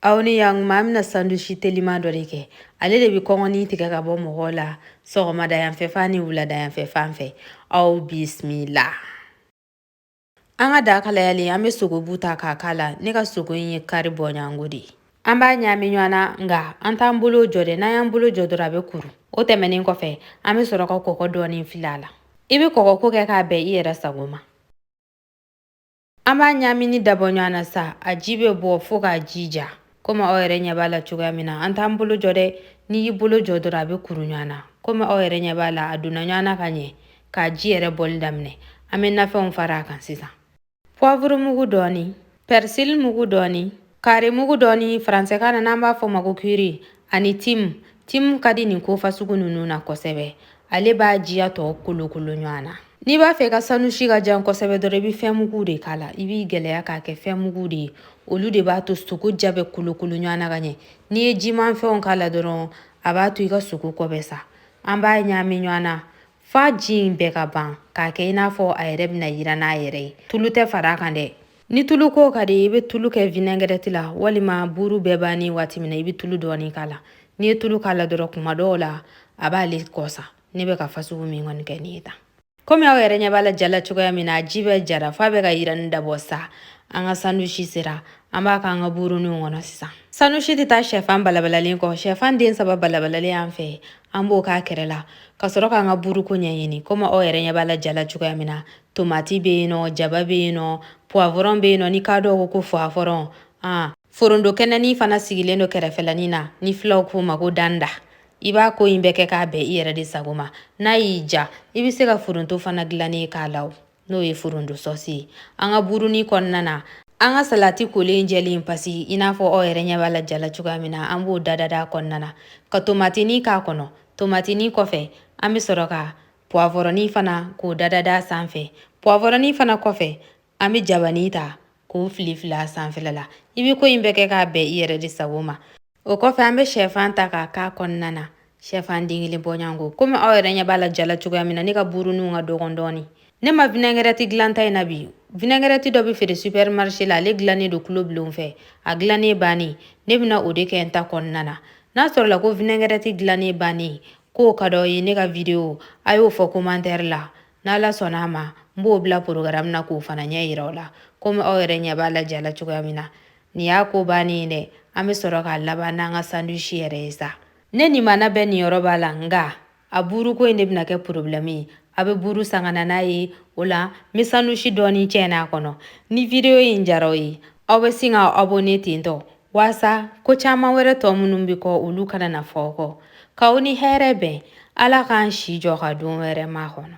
aw ni yan ɲuman an bɛna sandusi telima dɔ de kɛ ale de bɛ kɔngɔni tigɛ ka bɔ mɔgɔw la sɔgɔmada yanfɛ fan ni wulada yanfɛ fan fɛ aw bisimila an ka daga kalayalen an bɛ sogobu ta k'a k'a la ne ka sogo in ye kari bɔɲɔgɔnko de ye an b'a ɲaami ɲɔgɔn na nka an t'an bolo jɔ dɛ n'an y'an bolo jɔ dɔrɔn a bɛ kuru o tɛmɛnen kɔfɛ an bɛ sɔrɔ ka kɔgɔ dɔɔni fili a la i bɛ kɔgɔko kɛ k'a bɛn i yɛrɛ sago ma An b'a ɲaamini dabɔ ɲɔgɔn na sa a ji bɛ bɔ fo k'a ji ja komi aw yɛrɛ ɲɛ b'a la cogoya min na an t'an bolo jɔ dɛ n'i y'i bolo jɔ dɔrɔn a bɛ kuru ɲɔgɔn na komi aw yɛrɛ ɲɛ b'a la a donna ɲɔgɔn na ka ɲɛ k'a ji yɛrɛ bɔli daminɛ an bɛ nafɛnw fara a kan sisan puwavurumugu dɔɔni pɛrisili mugu dɔɔni Kari mugu dɔɔni faransɛkan na n'an b'a fɔ ma ko kiri ani tim tim ka di nin ko fasugu ninnu na kosɛbɛ ale b'a jiya tɔ kolokolo ɲɔgɔn na n'i b'a fɛ i ka sandusi ka ja kosɛbɛ dɔrɔn i bɛ fɛn mugu de k'a la i b'i gɛlɛya k'a kɛ fɛn mugu de ye olu de b'a to sogo ja bɛ kolokolo ɲɔgɔn na ka ɲɛ n'i ye jimafɛnw k'a la dɔrɔn a b'a to i ka sogo kɔ bɛ sa an b'a ɲaami ɲɔgɔn na f'a ji in bɛɛ ka ban k'a kɛ i n'a fɔ a yɛrɛ bɛna yiran a yɛrɛ ye tulu tɛ fara a kan dɛ ni tulu ko ka di i bɛ tulu kɛ vinɛgɛrɛti la walima buuru bɛɛ banni waati min na i bɛ tulu dɔɔni k'a la n'i ye tulu k'a la dɔrɔn kuma dɔw la a b'ale kɔsa ne bɛ ka fasugu min kɔni kɛ nin ye tan komi aw yɛrɛ ɲɛ b'a la ja la cogoya min na ji bɛɛ jara f'a bɛ ka yirani dabɔ sa an ka sandusi sera an b'a k'an ka buuruninw kɔnɔ sisan sandusi tɛ taa shɛfan balabalalen kɔ shɛfan den saba balabalalen b'an fɛ an b'o k'a kɛrɛ la ka sɔrɔ k'an ka buuruko ɲɛɲini komi aw yɛrɛ ɲɛ b'a la ja la cogoya min na tomati bɛ yen nɔ jaba bɛ yen nɔ puwavɔrɔn bɛ yen nɔ ni k'a dɔw ko ko fuwavɔrɔn ani foronto kɛnɛni fana sigilen don kɛrɛfɛlanin na ni filaw k'o ma ko danda i b'a ko in bɛɛ kɛ k'a bɛn i yɛrɛ de sago ma n'a y'i diya i bɛ se ka foronto fana dilannen in k'a la n'o ye foronto sɔsi ye an ka buurunin kɔnɔna na an ka salati kolen jɛlen pasi i n'a fɔ aw yɛrɛ ɲɛ b'a la ja la cogoya min na an b'o dadada kɔnɔna na ka tomatini k'a kɔnɔ tomatini kɔfɛ an bɛ sɔrɔ ka puwavɔrɔnin fana k'o dadada sanfɛ puwavɔrɔnin fana kɔfɛ an bɛ jabani ta k'o filifili a sanfɛla la i bɛ ko in bɛɛ kɛ k'a bɛn i yɛrɛ de sago ma o kɔfɛ an bɛ shɛfan ta k'a k'a kɔnɔna na shɛfan den kelen bɔɲɔgɔnko komi aw yɛrɛ ɲɛ b'a la ja la cogoya min na ne ka buuruninw ka dɔgɔn dɔɔni ne ma vinɛgɛrɛti dilan n ta in na bi vinɛgɛrɛti dɔ bɛ feere supɛrimarise la ale dilannen don kulo bulon fɛ a dilannen bannen ne bɛna o de kɛ n ta kɔnɔna na n'a sɔrɔla ko vinɛgɛrɛti dilannen bannen ko ka d'aw ye ne ka video a y'o fɔ commentaire la n'ala sɔnna a ma n b'o bila programme na k'o fana ɲɛ yira aw la komi aw yɛrɛ ɲɛ b'a la ja la cogoya min na nin y'a ko bannen ye dɛ an bɛ sɔrɔ k'a laban n'an ka sandwich yɛrɛ ye sa ne ni mana bɛɛ niyɔrɔ b'a la nka a buuruko in de bɛna kɛ problème ye a bɛ buuru san ka na n'a ye o la n bɛ sandwich dɔɔni cɛn n'a kɔnɔ ni video in diyara aw ye aw bɛ sin ka abonné tentɔ Walasa ko caman wɛrɛ tɔ minnu bɛ kɔ olu kana na fɔ aw kɔ k'aw ni hɛrɛ bɛn ala k'an si jɔ ka don wɛrɛ makɔnɔ